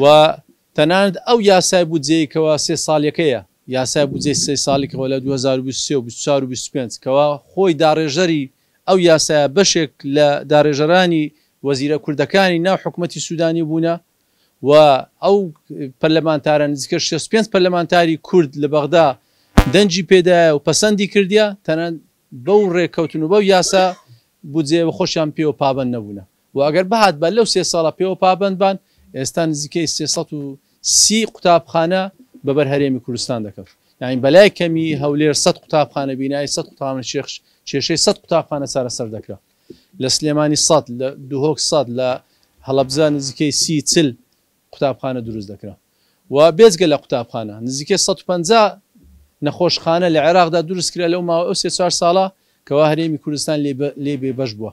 و تەنانەت ئەو یاسای بودجەی کەوا سێ سالیەکەیە، یاسای بودجەی سێ سالی کەوا لە دوو هەزار و بیست و سێ و بیست و چوار و بیست و پێنج کەوا خۆی داڕێژەری ئەو یاسایە بەشێک لە داڕێژەرانی وەزیرە کوردەکانی ناو حکومەتی سودانی بوونە و ئەو پەرلەمانتارە نزیکە شەست و پێنج پەرلەمانتاری کورد لە بەغدا دەنگی پێدایە و پەسەندی کردیە تەنانەت بەو ڕێکەوتن و بەو یاسا بودجەیە خۆشیان پێوە پابەند نەبوونە. و ئەگەر بهاتبا لەو سێ ساڵە پێوە پابەند بان ئێستا نزیکەی سێ سەد و سی قوتابخانە بە بەر هەرێمی کوردستان دەکەوت یانی بەلای کەمی هەولێر سەد قوتابخانە بینایی سەد قوتابخانە شێخ کێشەی سەد قوتابخانە چارەسەر دەکرا لە سلێمانی سەد لە دهۆک سەد لە هەڵەبزە نزیکەی سی چل قوتابخانە دروست دەکرا و بێجگە لە قوتابخانە نزیکەی 150 نەخۆشخانە لە عێراقدا دروست کرا لەو ماوە ئەو سێ چوار ساڵە کەوا هەرێمی کوردستان لێ بێبەش بووە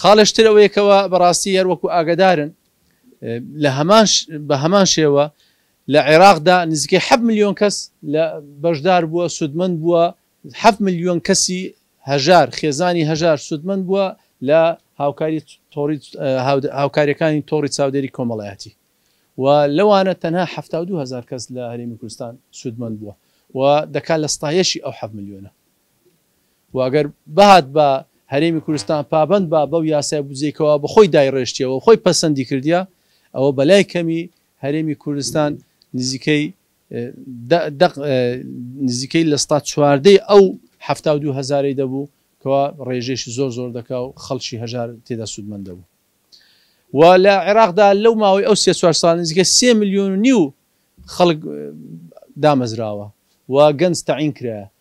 خاڵێش تر ئەوەیە کەوا بەڕاستی هەر وەکو ئاگەدارن لە هەمان بە هەمان شێوە لە عێراقدا نزیکەی حەفت ملیۆن کەس لە بەشدار بووە سوودمەند بووە حەفت ملیۆن کەسی هەژار خێزانی هەژار سوودمەند بووە لە هاوکاری تۆڕی هاوکاریەکانی تۆڕی چاودێری کۆمەڵایەتی و لەوانە تەنها حەفتا و دوو هەزار کەس لە هەرێمی کوردستان سوودمەند بووە و دەکات لە ستایەشی ئەو حەفت ملیۆنە و گەر بهاتبا هەرێمی کوردستان پابەند با بەو یاسای بودجەی کەوا بە خۆی دایڕێشتیەوە و خۆی پەسەندی کردیە ئەوە بە لای کەمی هەرێمی کوردستان نزیکەی دە دەق نزیکەی لە سەتا چواردەی ئەو حەفتا و دوو هەزارەی دەبوو کەوا ڕێژەیشی زۆر زۆر دەکا و خەڵکی هەژار تێدا سوودمەند دەبوو و لە عێراقدا لەو ماوەی ئەو سێ چوار ساڵ نزیکە سێ ملیۆن و نیو خەڵک دامەزراوە و گەنج تەعین کرایە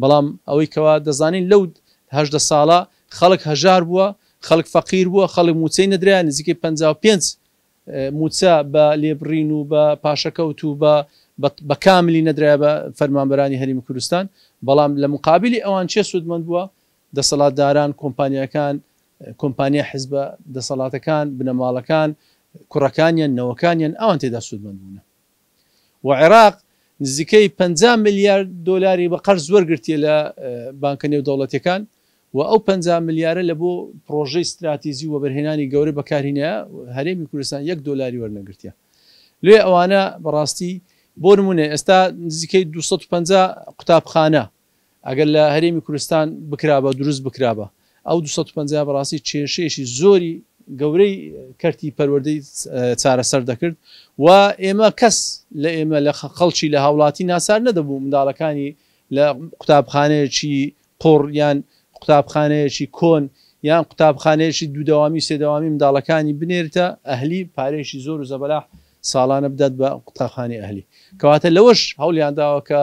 بەڵام ئەوەی کەوا دەزانین لەو هەژدە ساڵە خەڵک هەژار بووە، خەڵک فەقیر بووە، خەڵک مووچەی نەدرایە، نزیکەی پەنجا و پێنج مووچە بە لێبڕین و بە پاشەکەوت و بە بە کاملی نەدرایە بە فەرمانبەرانی هەرێمی کوردستان، بەڵام لە مقابلی ئەوان کێ سوودمەند بووە؟ دەسەڵاتداران، کۆمپانیاکان، کۆمپانیا حزبە دەسەڵاتەکان، بنەماڵەکان، کوڕەکانیان، نەوەکانیان، ئەوان تێدا سوودمەند بوونە. و عێراق نزیکەی پەنجا ملیار دۆلاری بە قەرز وەرگرتیە لە بانکە نێودەوڵەتیەکان و ئەو پەنجا ملیارە لە بۆ پڕۆژەی ستراتیجی و وەبەرهێنانی گەورە بەکارهینایە هەرێمی کوردستان یەک دۆلاری وەرنەگرتیە لێ ئەوانە بەڕاستی بۆ نمونە ئێستا نزیکەی دوو سەد و پەنجا قوتابخانە ئەگەر لە هەرێمی کوردستان بکرابا دروست بکرابا ئەو دوو سەد و پەنجا بەڕاستی کێشەیەکی زۆری گەورەی کەرتی پەروەردەی چارەسەر دەکرد و ئێمە کەس لە ئێمە لە خەڵکی لە هاوڵاتی ناچار نەدەبوو منداڵەکانی لە قوتابخانەیەکی قوڕ یان قوتابخانەیەکی کۆن یان قوتابخانەیەکی دوو دەوامی سێ دەوامی منداڵەکانی بنێرتە ئەهلی پارەیەکی زۆر و زەبەلاح ساڵانە بدات بە قوتابخانەی ئەهلی کەواتە لەوەش هەوڵیان داوە کە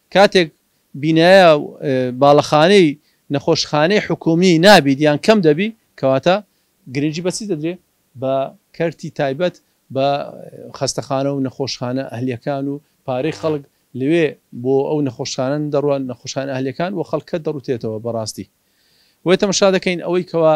کاتێک بینایە باڵەخانەی نەخۆشخانەی حکوومی نابیت یان کەم دەبی کەواتە گرنگی بە چی دەدرێ؟ بە کەرتی تایبەت بە خەستەخانە و نەخۆشخانە ئەهلیەکان و پارەی خەڵک لەوێ بۆ ئەو نەخۆشخانە دەڕوات نەخۆشخانە ئەهلیەکان و خەڵکە دەڕوتێتەوە بەڕاستی بۆیە تەمەشا دەکەین ئەوەی کەوا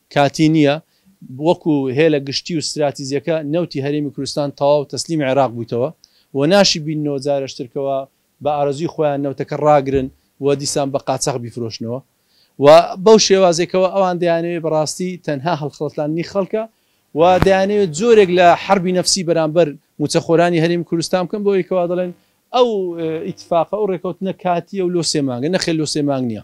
کاتی نییە، وەکو هێلە گشتی و ستراتیجەکە نەوتی هەرێمی کوردستان تەواو تەسلیمی عێراق بوویتەوە و ناشی بیننەوە جارشتر کەوا بە ئارەزووی خۆیان نەوتەکە ڕاگرن و دیسان بە قاچاخ بیفرۆشنەوە و بەو شێوازەی کەوا ئەوان دەیانەوێت بەڕاستی تەنها هەڵخڵەتاندنی خەڵکە و دەیانەوێت جۆرێک لە حەربی نەفسی بەرامبەر مووچەخۆرانی هەرێمی کوردستان بکەن بۆ ئەوەی کەوا دەڵێن ئەو ئیتفاقە ئەو ڕێکەوتنە کاتییە و لۆ سێ مانگە، نەخێر لۆ سێ مانگ نییە.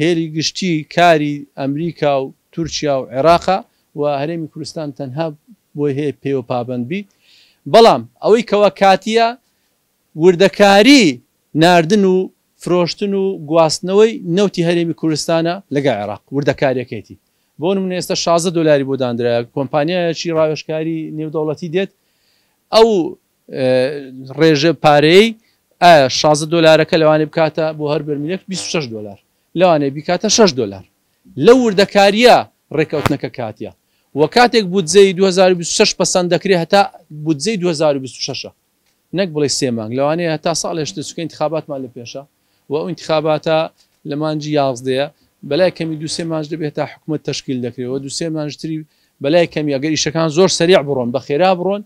هێلی گشتی کاری ئەمریکا و تورکیا و عێراقە و هەرێمی کوردستان تەنها بۆی هەیە پێوە پابەند بیت بەڵام ئەوەی کەوا کاتییە وردەکاری ناردن و فرۆشتن و گواستنەوەی نەوتی هەرێمی کوردستانە لەگەڵ عێراق وردەکاریەکەیتی بۆ نمونە ئێستا شازدە دۆلاری بۆ داندرایە کۆمپانیایەکی ڕاوێژکاری نێودەوڵەتی دێت ئەو ڕێژە پارەیەی ئایا شازدە دۆلارەکە لەوانێ بکاتە بۆ هەر بەرمیلێک بیست و شەش دۆلار لەوانێ بیکاتە شەش دۆلار لەو وردەکارییە ڕێککەوتنەکە کاتیە و کاتێک بودجەی دوو هەزار و بیست و شەش پەسەند دەکرێ هەتا بودجەی دوو هەزار و بیست و شەش ە نەک بڵێ سێ مانگ لەوانەیە هەتا ساڵێش دێ چونکە انتخاباتمان لە پێشە و ئەو انتخاباتە لە مانگی یازدەیە بەلای کەمی دوو سێ مانج دەبێت تا حکومەت تەشکیل دەکرێت و دوو سێ مانج تری بەلای کەمی ئەگەر ئیشەکان زۆر سەریع بڕۆن بە خێرا بڕۆن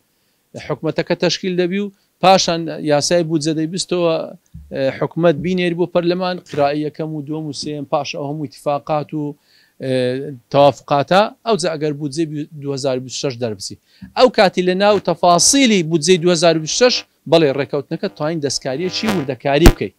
حکومەتەکە تەشکیل دەبی و پاشان یاسای بودجە دەیبستەوە حکومەت بینێری بۆ پەرلەمان قیرائی یەکەم و دووەم و سێیەم پاش ئەو هەموو ئیتفاقات و تەوافقاتە ئەوجا ئەگەر بودجەی دوو هەزار و بیست و شەش دەربچی ئەو کاتی لە ناو تەفاسیلی بودجەی دوو هەزار و بیست و شەش بەڵێ ڕێکەوتنەکە تواین دەستکاریی وردەکاری بکەی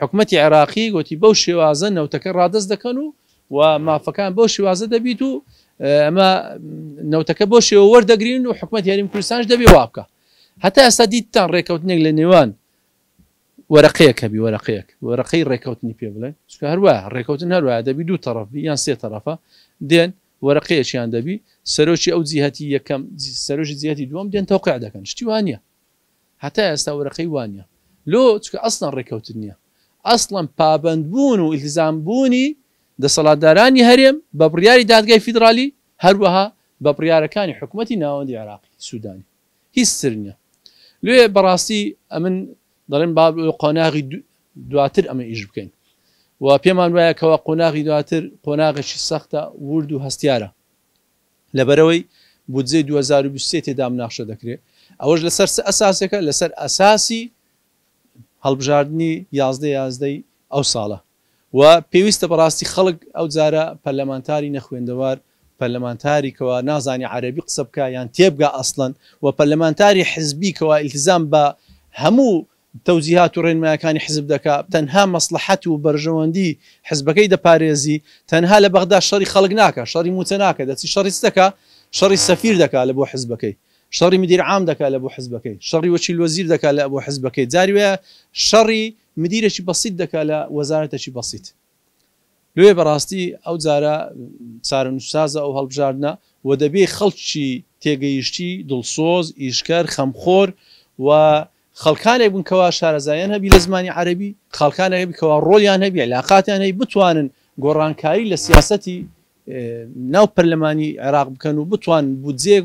حکومەتی عێراقی گوتی بەو شێوازە نەوتەکە ڕادەست دەکەن و و مافەکان بەو شێوازە دەبیت و ئەمە نەوتەکە بۆ شێوە وەردەگرین و حکومەت یاریم کوردستانش دەبێ وا بکە هەتا ئێستا دیتتان ڕێککەوتنێک لە نێوان وەرەقەیەک هەبی وەرەقەیەک وەرەقەی ڕێککەوتنی پێ بڵێن چکە هەروە ڕێککەوتن هەروە دەبی دوو تەڕف بی یان سێ تەرەفە دێن وەرەقەیەکیان دەبی سەرۆکی ئەو جیهەتی یەکەم سەرۆژی جیهەتی دووەم دێن تەوقع دەکەن شتیوانە هەتا ئێستا وەرەقەی وا نیە لۆ چونکە ئەسڵەن ڕێکەوتن نیە ئەسڵەن پابەند بوون و ئیلتزام بوونی دەسەڵاتدارانی هەرێم بە بڕیاری دادگای فیدڕالی هەروەها بە بڕیارەکانی حکومەتی ناوەندی عێراقی سودانی هیچ تر نیە لۆیە بەڕاستی ئەمن دەڵێن با بۆ قۆناغی دواتر ئەمە ئیش بکەین و پێمان وایە کەوا قۆناغی دواتر قۆناغێکی سەختە ورد و هەستیارە لەبەرئەوەی بودجەی دوو هەزار و بیست و سێ تێدا مناقشە دەکرێت، ئەوەش لەسەر چ ئەساسێکە، لەسەر ئەساسی هەڵبژاردنی یازدە یازدە ی ئەو ساڵە و پێویستە بەڕاستی خەڵک ئەو جارە پەرلەمانتاری نەخوێندەوار، پەرلەمانتاری کەوا نازانێت عەرەبی قسە بکات یان تێبگات ئەسڵەن و پەرلەمانتاری حزبی کەوا ئیلتزام بە هەموو تەوجیهات و ڕێنمایەکانی حزب دەکا، تەنها مەسڵەحەت و بەرژەوەندی حزبەکەی دەپارێزی، تەنها لە بەغدا شەڕی خەڵک ناکا، شەڕی موچە ناکا، دەچی شەڕی چ دەکا، شەڕی سەفیر دەکا لە بۆ حزبەکەی، شەڕی مدیر عام دەکا لە بۆ حزبەکەی، شەڕی وەکیل وەزیر دەکا لە بۆ حزبەکەی، جاری وایە شەڕی مدیرێکی بەسیت دەکا لە وەزارەتێکی بەسیت. لۆیە بەڕاستی ئەو جارە چارەنوسسازە ئەو هەڵبژاردنە و دەبێ خەڵکی تێگەیشتی، دڵسۆز، ئیشکەر، خەمخۆر و خەڵکانێک بن کەوا شارەزایان هەبی لە زمانی عەرەبی، خاڵکانێک هەبی کەوا ڕۆڵیان هەبی، عیلاقاتیان هەبی بتوانن گۆڕانکاری لە سیاسەتی ناو پەرلەمانی عێراق بکەن و بتوانن بودجەیەک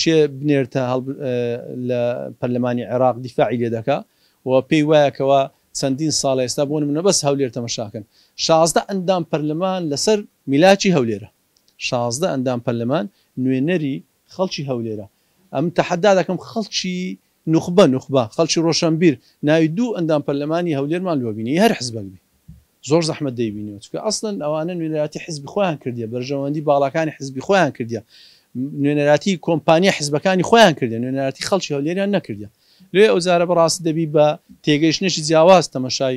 چێ بنێرتە هەڵب لە پەرلەمانی عێراق دیفاعی لێ دەکا و پێی وایە کەوا چەندین ساڵە ئێستا بۆ نموونە بەس هەولێر تەمەشاکەن شازدە ئەندام پەرلەمان لەسەر میلاکی هەولێرە شازدە ئەندام پەرلەمان نوێنەری خەڵکی هەولێرە ئەمن تەحەدا دەکەم خەڵکی نوخبە نوخبە خەڵکی ڕۆشەنبیر ناوی دوو ئەندام پەرلەمانی هەولێرمان لۆ بینی هەر حزبەک بێ زۆر زەحمەت دەیبینیەوە چونکە ئەسڵەن ئەوانە نوێنەراتی حزبی خۆیان کردیە بەرژەوەندی باڵاکانی حزبی خۆیان کردیە نوێنەراتی کۆمپانیا حزبەکانی خۆیان کردیە نوێنەراتی خەڵکی هەولێریان نەکردیە لێ ئەو جارە بەڕاستی دەبی بە تێگەیشتنێکی جیاواز تەمەشای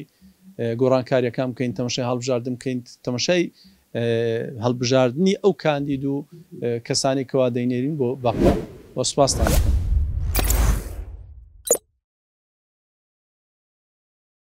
گۆڕانکاریەکان بکەین تەمەشای هەڵبژاردن بکەین تەمەشای هەڵبژاردنی ئەو کاندید و کەسانەی کەوا دەینێرین بۆ بەغدا و سوپاستان دەکەم.